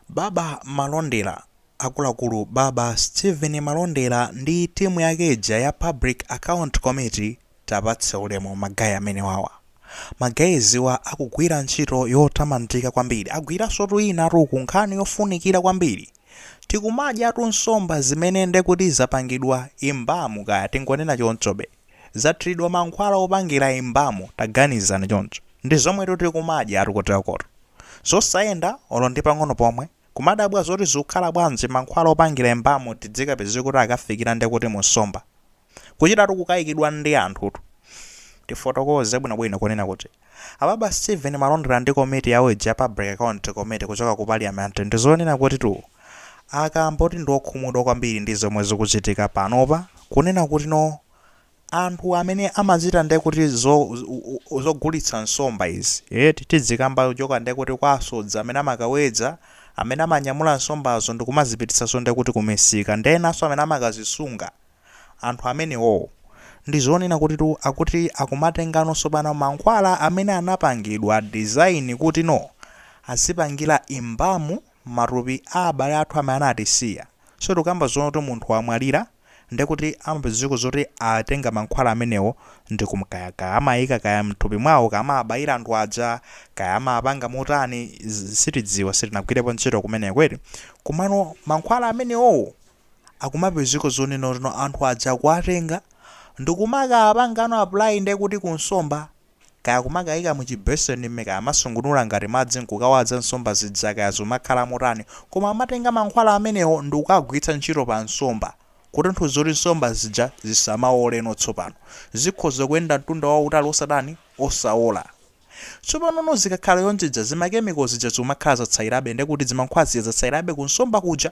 Baba Malondera, Akuluakulu Baba Steven Malondera ndi team yake ija ya Public Account Committee tapatse ulemu ma guy amenewawa. Ma guys wa akugwira ntchito yotamandika kwambiri. Agwiransotu inatu uku nkhani yofunikira kwambiri. Tikumadyatu nsomba zimene ndekuti zapangidwa imbamu kaya tingonena chonchobe. Zathiridwa mankhwala opangira imbamu taganizani choncho. Ndi zomwetu tikumadyatu kutelokotu. Zosayenda olo ndi pang'ono pomwe. Kumadabwa zoti zikukhala bwanji mankhwala opangira embalm tidzikapeze kuti akafikira nde kuti mu nsomba. Kuchitatu kukayikidwa ndi anthutu. Tifotokoze bwino bwino kunena kuti a Baba Steven Malondera ndi komiti yawo ija ya Public Account Committee kuchoka ku Parliament ndi zonena kutitu akamba kuti ndi okhumudwa kwambiri ndi zomwe zikuchitika panopa kunena kuti no Anthu amene amachita nde kuti zo zogulitsa nsomba izi eti tidzikamba kuchoka nde kuti kwa asodzi amene amakawedza amene amanyamula nsombazo ndikumazipititsaso nde kuti kumisika ndi enaso amene amakazisunga anthu amenewowo ndizonena kutitu akuti akumatengano tsopano mankhwala amene anapangidwa design kuti no azipangila embalm matupi a abale athu amene anatisiya. So tikukamba zonena kuti munthu wamwalira ndiye kuti amapezeka zoti atenga mankhwala amenewo ndikum kaya kaya amaika kaya mthupi mwawo, kaya amawabayira anthu aja, kaya amapanga motani, sitidziwa sitinagwirepo ntchito kumeneko eti. Komano mankhwala amenewowo akumapezeka zonena kuti no anthu aja akuwatenga ndikumakawapangano apply ndiye kuti ku nsomba Kaya kumakayika mu chi basin mme kaya amasungunula ngati madzi nkukawaza nsomba zija kaya zumakhala motani koma amatenga mankhwala amenewo ndikukagwiritsa ntchito pa nsomba kutanthauza kuti nsomba zija zisamaoleno tsopano zikhoza kuyenda mtunda wautali osatani osaola tsopanono zikakhala chonchija zima chemical zija zikumakhala zatsayilabe ndekuti zimankhwala zija zatsayilabe ku nsomba kuja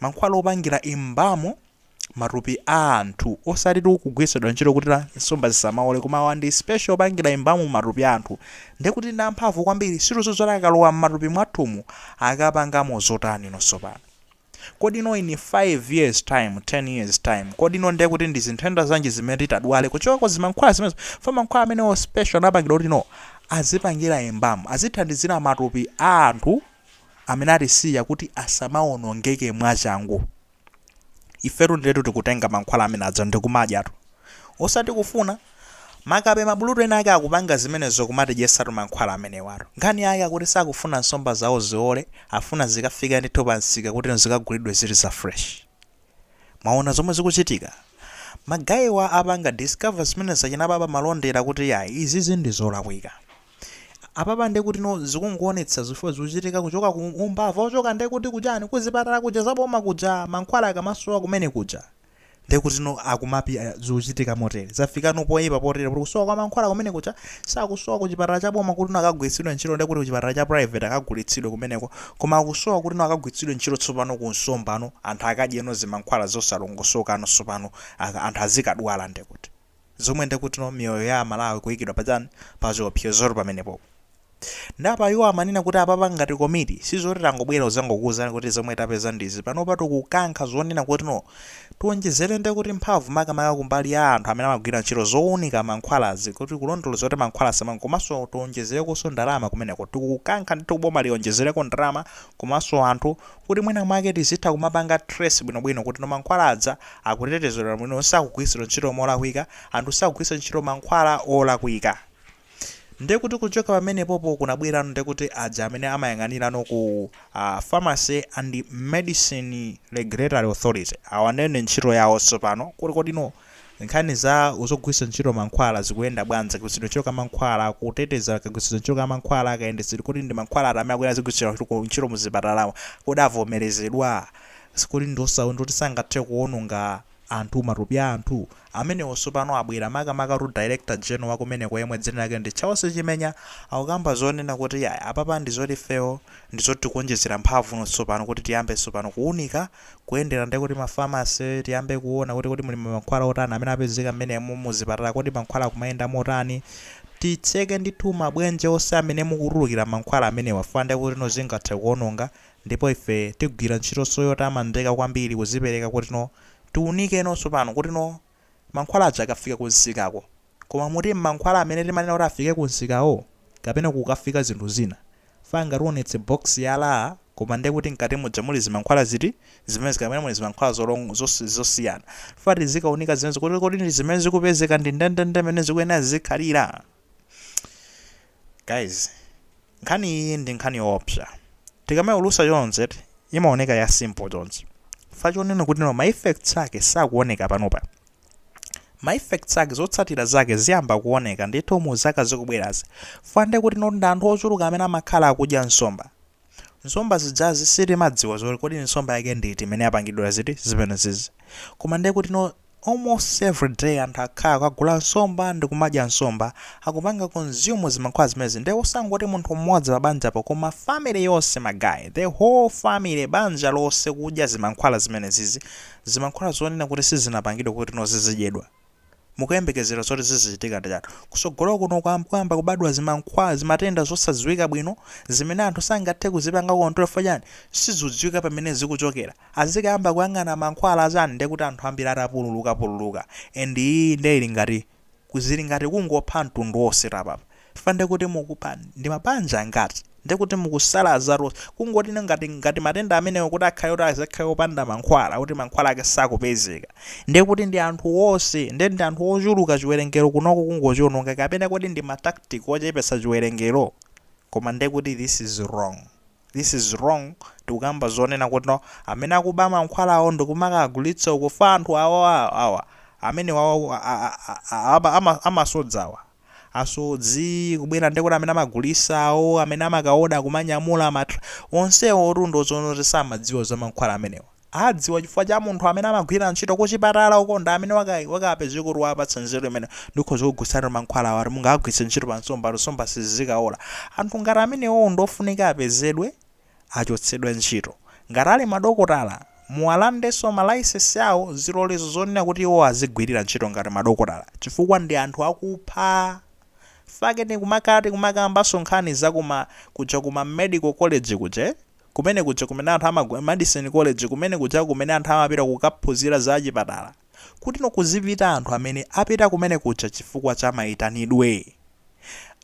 mankhwala opangira imbamu matupi a anthu osatitu kugwiritsidwa ntchito kuti no nsomba zisamaole koma awa ndi special opangira imbamu matupi a anthu ndiye kuti ndi amphamvu kwambiri sitidziwa zoti akalowa m'matupi mwathumu akapangamo zotani no tsopano kodi no in 5 years time 10 years time kodi no ndiye kuti ndi zinthenda zanji zimene titadwale kuchoka ku zimankhwala zimenezo fa mankhwala amenewo special anapangira kuti no azipangira imbamu azithandizira matupi a anthu amene atisiya kuti asamawonongeke mwachangu. Ifetu ndiyetu tikutenga mankhwala amene aja ndi kumadyatu. Osati kufuna. Makape mabulutu ena ake akupanga zimenezo kumatidyetsatu mankhwala amenewatu. Nkhani yake akuti sakufuna nsomba zawo ziwole, afuna zikafike ndithu pamsika kuti zikagulidwe zili za fresh. Mwaona zomwe zikuchitika? Ma guy wa apanga discover zimenezi za achina baba malondera kuti yayi izizi ndi zolakwika. Apapa nde kuti no zikungoonetsa zifukwa zikuchitika kuchoka ku umbava ochoka nde kuti kujani kuzipatala kuja za boma kuja mankhwala akamasowa kumene kuja nde kuti no akumapi zikuchitika motere zafika no poipa potere kuti kusowa kwa mankhwala kumene kuja sakusowa ku chipatala cha boma kuti no akagwiritsidwe ntchito nde kuti ku chipatala cha private akagulitsidwe kumeneko Koma akusowa kuti no akagwiritsidwe ntchito tsopano ku nsombano anthu akadyeno zimankhwala zosalongosokano sopano aka anthu azikadwala ndekuti zomwe ndekuti no miyoyo ya aMalawi kuikidwa pachani pachiopsezo pamenepopo nde apa iwo amanena kuti apapa ngati komiti sizoti tangobwera kuzangokuuzani kuti zomwe tapeza ndizi panopa tikukankha zonena kuti no Tionjezere nde kuti mphamvu makamaka kumbali ya anthu amene amagwira ntchito zounika mankhwalazi kuti kulondoloza kuti mankhwala asamank komanso tionjezerekonso ndalama kumeneko. Tikukankha ndithu kuboma lionjezereko ndalama komanso anthu kuti mwina mwake tizitha kumapanga trace bwinobwino kuti no mankhwala aja akutetezedwa bwino sakugwiritsidwa ntchito molakwika, anthu sakugwiritsa ntchito mankhwala olakwika. Ndiye kuti kuchoka pamenepopo kunabwerano ndiye kuti aja amene amayang'anirano ku uh, Pharmacy and Medicine Regulatory Authority awa ndiye ndi ntchito yawo tsopano kuti kodino nkhani za zogwiritsa ntchito mankhwala zikuyenda bwanji kagwiritsidwe ntchito ka mankhwala kuteteza kagwiritsidwe ntchito ka mankhwala kayendetsedwe kuti ndi mankhwala ati amene akuyenera azigwiritsidwa ntchito ku- ntchito muzipatalawa kodi avomerezedwa sikuli ndi oti sangathe kuwononga anthu matupi a anthu Amenewo sopano abwera, makamaka tu Director General wa kumeneko yemwe dzina lake ndi Charles Chimenya akukamba zonena kuti iyayi apapa ndi zoti ifeyo ndi zoti tikuonjezera mphamvu no tsopano kuti tiyambe tsopano kuunika, kuyendera nde kuti ma pharmacy, tiyambe kuona kuti kodi muli ma mankhwala otani amene apezeka m'menemo, mu zipatala kodi mankhwala akumayenda motani, titseke ndithu mabwenje onse amene mukutulukira mankhwala amenewa chifukwa nde kuti no zingathe kuononga ndipo ife tigwira ntchitonso yotamandika kwambiri kuzipereka kuti no Tiunike no tsopano kuti no mankhwala aja akafika ku nsikako koma muti mankhwala amene timanena kuti afike ku nsikawo kapena kukafika zinthu zina fe angationetse box ya LA koma ndiye kuti mkati muja muli zimankhwala ziti zimenezo kapena muli zimankhwala zolong zos zosiyana fe tizikaunika zimenezo kuti kodi ndi zimene zikupezeka ndi ndendende mmene zikuyenera zizikhalira Guys, nkhani iyi ndi nkhani yoopsa. Tikamayiulusa chonchi eti, imaoneka ya simple chonchi. Fa chonena kuti no ma effects ake sakuoneka panopa. Ma effects ake zotsatira zake ziyamba kuoneka ndithu mu zaka zikubwerazi. Fa nde kuti no ndi anthu ochuluka amene amakhala akudya nsomba. Nsomba zijazi sitimadziwa zoti kodi nsomba yake ndi iti imene yapangidwa ziti zimenezizi. Koma ndiye kuti no almost every day anthu akhala akagula nsomba ndi kumadya nsomba, akupanga consume zimankhwala zimenezi. Ndiye osangoti munthu mmodzi pa banjapo koma family yonse my guy, the whole family banja lonse kudya zimankhwala zimenezizi, zimankhwala zonena kuti sizinapangidwe kuti no zizidyedwa. mukuyembekezera zoti zizichitika ndi chani? Kusogolo kuno kuyamba kubadwa zimankhwala, zimatenda zosadziwika bwino zimene anthu sangathe kuzipanga control chifukwa chani? Sizikudziwika pamene zikuchokera. Azikayamba kuyang'ana mankhwala achani ndiye kuti anthu ambiri atapululuka pululuka and iyi ndiye ili ngati, zili ngati kungopha mtundu wonse tu apapa. chifukwa ndekuti mukupha ndi mabanja angati ndekuti mukusala azaruz kungoti ngati ngati matenda amenewo kuti akhale kuti azakhale opanda mankhwala kuti mankhwala ake sakupezeka ndekuti ndi anthu wonse nde ndi anthu ochuluka chiwerengero kunoko kungochiononga kapena kodi ndi ma tactic ochepesa chiwerengero koma ndekuti this is wrong. This is wrong, tikukamba zonena kuti no amene akuba mankhwalawo ndikumakagulitsa uko fa anthu awa awa amene amasodzawa asodzi kubwera ndekuti amene amagulisa awo amene amakaoda kumanyamula ma onsewo otu ndi zoona zoti samadziwa za mankhwala amenewa adziwa chifukwa cha munthu amene amagwira ntchito kuchipatala uko ndi amene waka- wakapezeka kuti wapatsa nzeru imene ndikhoza kugwiritsa mankhwala awa kuti mungawagwiritse ntchito pa nsomba kuti nsomba zisakaole anthu ngati amenewowo ndi ofunika apezedwe achotsedwe ntchito ngati ali madokotala muwalandenso malaisensi awo zilolezo zonena kuti iwo azigwirira ntchito ngati madokotala chifukwa ndi anthu akupha fake tikumakhala tikumakambanso nkhani zakuma kuja kuma medical college kuja eh? Kumene kuja kumene anthu, medicine college, kumene kuja kumene anthu amapita kukaphunzira za achipatala, kuti no kuzipita anthu amene apita kumene kuja chifukwa cha maitanidwe.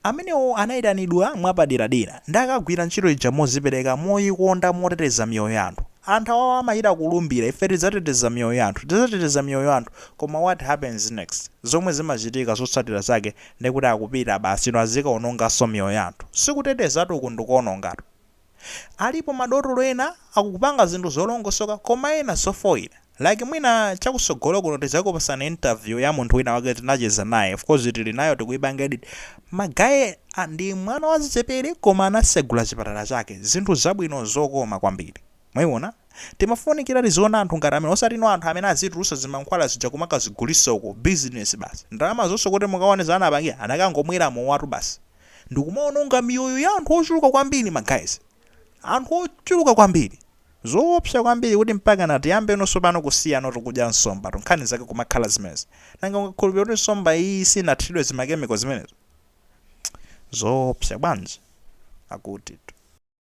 Amenewo anaitanidwa mwapaderadera, ndiye akagwira ntchito ija mozipereka, moyikonda, moteteza miyoyo ya anthu. Anthu awawa amachita kulumbira, ife tidzateteza miyoyo ya anthu, tidzateteza miyoyo ya anthu, koma what happens next? Zomwe zimachitika zotsatira zake ndekuti akupita basi no azikaononganso miyoyo ya anthu. Sikutetezatu uku ndikuonongatu. Alipo ma dotolo ena akupanga zinthu zolongosoka koma ena zofoira like mwina chakusogolo kuno tizakupasirani interview ya munthu wina wake tinacheza naye of course tili nayo tikuipanga edit ma guy ndi mwana wazichepele koma anasegula chipatala chake zinthu zabwino zokoma kwambiri mwaiona timafunikira tiziona anthu ngati amene osati no anthu amene azitulusa zimankhwala zija kumakazigulisa uko business basi ndalamazoso kuti mukaone zomwe anapangira anakangomwera mowatu basi. ndikumaononga miyoyo ya anthu ochuluka kwambiri ma guys anthu ochuluka kwambiri zoopsa kwambiri kuti mpakana tiyambeno sopano kusiyatu kudya nsomba tu nkhani zake kumakhala zimenezo nanga ungakhulupirire kuti nsomba iyi sinathiridwe zimakemiko zimenezo zoopsa bwanji akuti